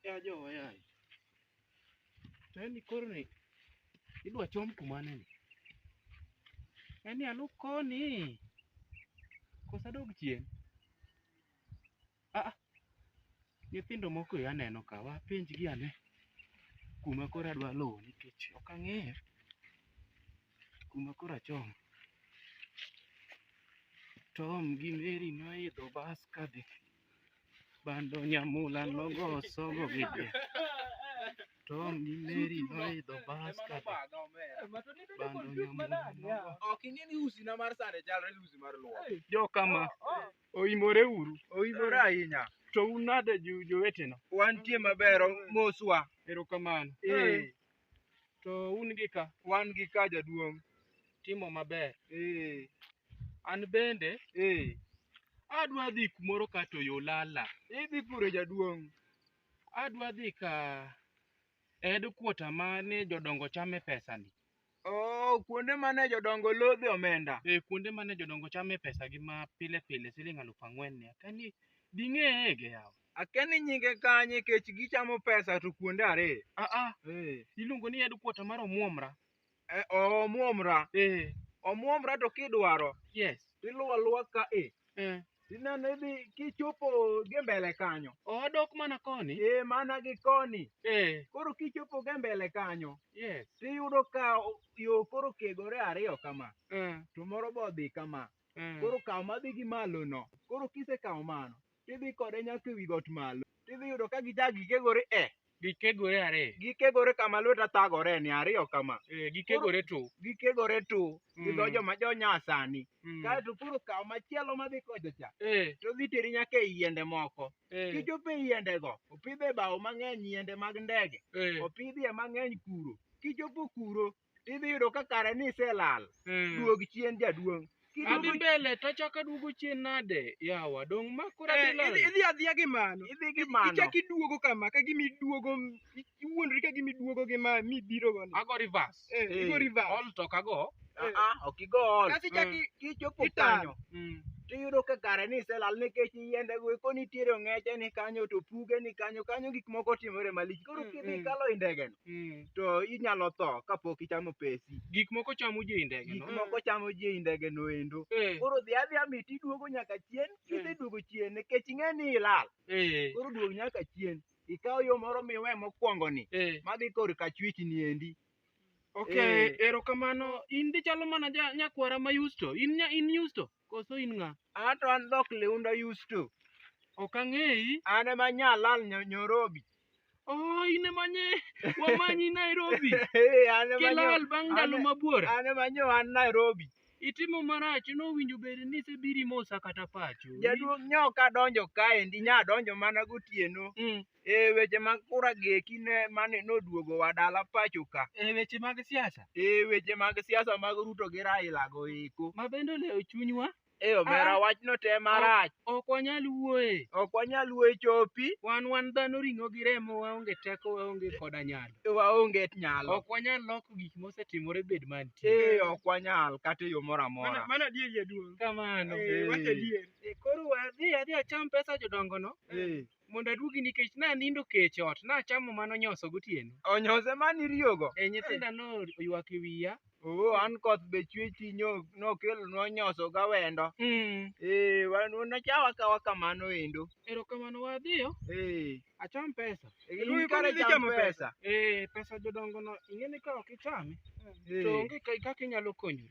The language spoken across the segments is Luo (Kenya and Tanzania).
Ya jowa yaye. To en ni koro ni idwa chom kumane ni? En ni alup koni. Kosa dog chien. Ah, ah. nyithindo moko e aneno ka wapenjgi ane kuma koro adwa luwo nikech ok ang'eyo. kuma koro achom tom gi meri noidho bas kadhi bando nyamula nogo sogo gi be tom gi meri noidho bas kadhi bando nyamula nogo Ok ing'e ni usi na mar sande chalre gi usi mar luo. jokama oimore uru Oimore ahinya. to un nade ju- jowetena Wantie maber moswa. erokamano Eh. To un gi ka? Wan gi ka jaduong'. Timo maber. Eh. An bende. Eh. Adwa dhi kumoro ka to yo lala. Idhi kure jaduong'? Adwa dhi ka ed kuota ma ni jodongo chame pesani. Oh, kuonde mane jodongo lodhe omenda. Eh, kuonde mane jodongo chame pesa gi ma pile pile siling' alufu ang'wen ni. Kani ding'eye ge yawa. Akia ni nyinge kanye kech gichamo pesa to kuonde ariyo. Ah ah, Eh. iluongo ni headquarter mar Omuomra. Eh, Omuomra. Eh, Omuomra to kidwaro yes. tiluwo aluwa ka e. Eh. Tineno idhi kichopo gi mbele kanyo. Odok mana koni. Eh mana gi koni. Eh, Koro kichopo gi mbele kanyo yes. tiyudo ka o- yo koro kegore ariyo kama Eh, to moro be odhi kama. eh. Koro kaw madhi gi malo no. Koro kisekawo mano Tidhi kode nyaka ewi got malo. Tidhi yudo ka gichak gikegore e. Gikegore are. Gikegore kama lweta thagore ni ariyo kama. Eh, gikegore tu. Gikegore tu. Mm. Gidho joma jo nyasani. Mm. Kaeto koro kaw machielo madhi kocha cha. Eh. To dhi teri nyaka e yiende moko. Eh. Kichopo e yiende go, opidhe bao mang'eny yiende mag ndege. Eh. Opidhie mang'eny kuro. Kichopo kuro, idhi yudo ka kare ni iselal Mm. duog chien jaduong' Adhi Kiduogo- mbele to achako aduogo chien nade yawa dong' ma koro Eh, adhi idhi- lal. idhi adhiya gi mano idhi gi mano ichak iduogo kama ka gima iduogo iwuondri ka gima iduogo gi ma mibiro go ni Ago reverse. Eh, Eh, igo reverse All talk ago. Ah, ah, ok igo ol kasi ichak i- kichopo Itar. kanyo Mm. tiyudo ka kare ni iselal nikech yiende go eko nitiere ong'eche ni kanyo to puge ni kanyo kanyo gik moko timore malich koro Mm, kidhi mm. kalo i ndegeno Mm, to inyalo tho kapok ichamo pesi. Gik moko chamo ji ei ndege Gik no. moko chamo ji ei ndege no endo. Eh, Koro dhi adhiya miti iduogo nyaka chien, kiseduogo chien nikech ing'e ni ilal. eh, Koro duog nyaka chien. Ikaw yo moro miwe mokwongo ni, eh. madhi kor ka chwich ni endi. Okay, Eh. erokamano. In dichalo mana ja- nyakwara ma Yusto. In nya- in Yusto. Koso in ng'a? An to an dhok liunda Yusto. Ok ang'eyi. An ema nyalal nyo- Nyorobi. Oh, in ema nye wamanyi Nairobi. Ee, an ema nyo- Kilal bang' ndalo an- mabwora. An ema nyo an Nairobi. Itimo marach nowinjo bed ni isebiri mosa kata pacho. Jaduong' nyoka donjo kaendi, nya donjo mana gotieno. Mm. Eh, weche mag kura gi eki ne mane noduogo wa dala pacho ka. Eh, weche mag siasa. Eh, weche mag siasa mag Ruto gi Raila go eko. Ma bende olewo chunywa. Eh, omera ah, wachno te marach. Ok wanyal wuoye. Ok wanyal wuoye chopi. Wan wan dhano ring'o gi remo waonge teko waonge koda nyalo. Eh, waonge nyalo. Ok wanyal loko gik mosetimore bed mantie. Eh, ok wanyal kata yo moro amora. Mano adier jaduong'. Kamano. Eh, wacha adier. Eh, koro wadhi adhi acham pesa jodongono. Eh. mondo aduogi nikech nanindo kech e ot nachamo mano nyoso gotieno Onyose mane iriyogo. e nyithinda noywak e wiya Oo, an koth be chwe chuny ok- nokelonwa nyoso gawendo. mm. Ee, wan wanachawa kawa kamano endo. erokamano wadhiyo Ee, acham pesa in Iluongo kare ni cham chamo pesa. pesa. eh pesa jodongo no ing'eni ka ok ichame to Ee. onge ka- kaka inyalo konyori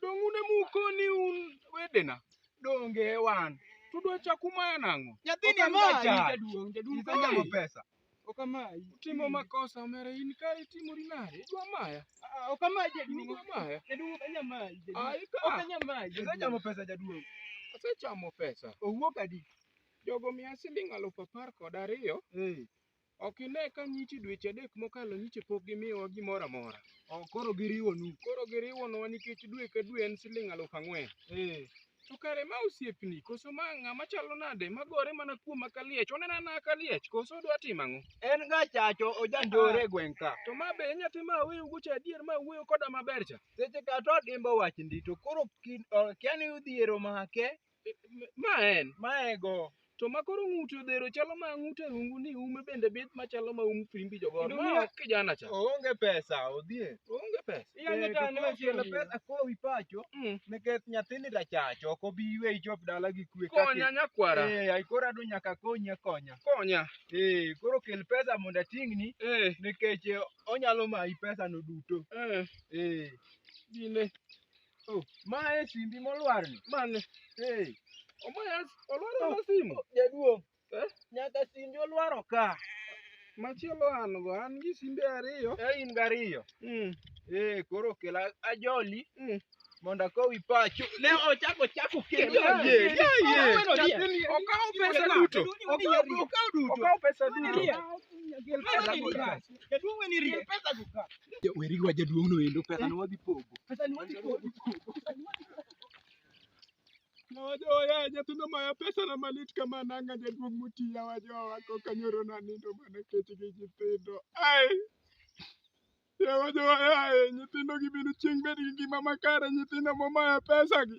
Donge un ema ukoni un wedena? Donge wan. To udwa chaku maya nang'o? Nyathini Ok amayi ajaja. jaduong', jaduong' Isenyago kamayi. pesa. Ok amayi. Utimo makosa omera in kare itimori nade? Idwa maya? Ah, Ok amayi jaduong'. Idwa maya? Jaduong' ok anyal mayi. jaduong'. Ai ka. Ok anyal mayi. jaduong'. Isenyago pesa jaduong'. Asechamo pesa. Owuok adi? Jogo miya siling' alufu apar kod ariyo. Eh. Ok ine ka nyiche dweche adek mokalo nyiche pok gimiyowa gimoro amora. Oh, koro giriwonu. Koro giriwonwa nikech dwe ka dwe en siling' aluf ang'wen. Eh. To kare ma osiepni koso ma ng'ama chalo nade magore mana kuoma ka liech? Onena na ka liech koso odwa timo ang'o? En ga chacho ojanjore e gweng' ka. To ma be e nyathi ma aweyou go cha adier ma wuoyo koda maber cha? Seche ka to odimbo wach ndi to koro kin- oh, kia ni udhiero make Ma en. Ma ego. To ma koro ng'ute odhero chalo ma ng'ute rungu ni ume bende bith ma chalo ma um fimbi jogo. Ma ok kijana cha. Oonge pesa odhie. Oonge pesa. Iyange ta no chielo pesa ko wi pacho. Mm. Nikech nyathini rachacho ok obi ywe ichop dala gi kwe. Konya nyakwara. Eh, ai koro adu nyaka konya konya. Konya. Eh, koro kel pesa mondo ating'ni. Eh. Nikech onyalo mayi pesa no duto. Eh. Eh. Dine. Oh, ma e simbi molwar ni. Mane. Hey. Omaya olwar oh, na simu. Oh, jaduong'. Eh? Nyaka simbi olwaro ka. Machielo an go an gi simbe ariyo. Eh in gariyo. Mm. Eh koro kela ajoli. Mm. Mondo akowi pacho. Ne ochako chako kendo. Ye ye ye. Okawo pesa duto. Okawo duto. Okawo pesa duto. Jaduong' weni rie. Gin pesa go ka. Weri wa jaduong' no endo pesa no wadhi pogo. Pesa ni wadhi pogo. Na wajoya nyathindo maya pesa na malit kama nanga jaduong' mutiya wajowa wako kanyoro na nindo mana kech gi nyithindo. Ai. Ya wajowa yaye nyithindo gi binu chieng' bed gi ngima makare nyithindo momaya pesa gi.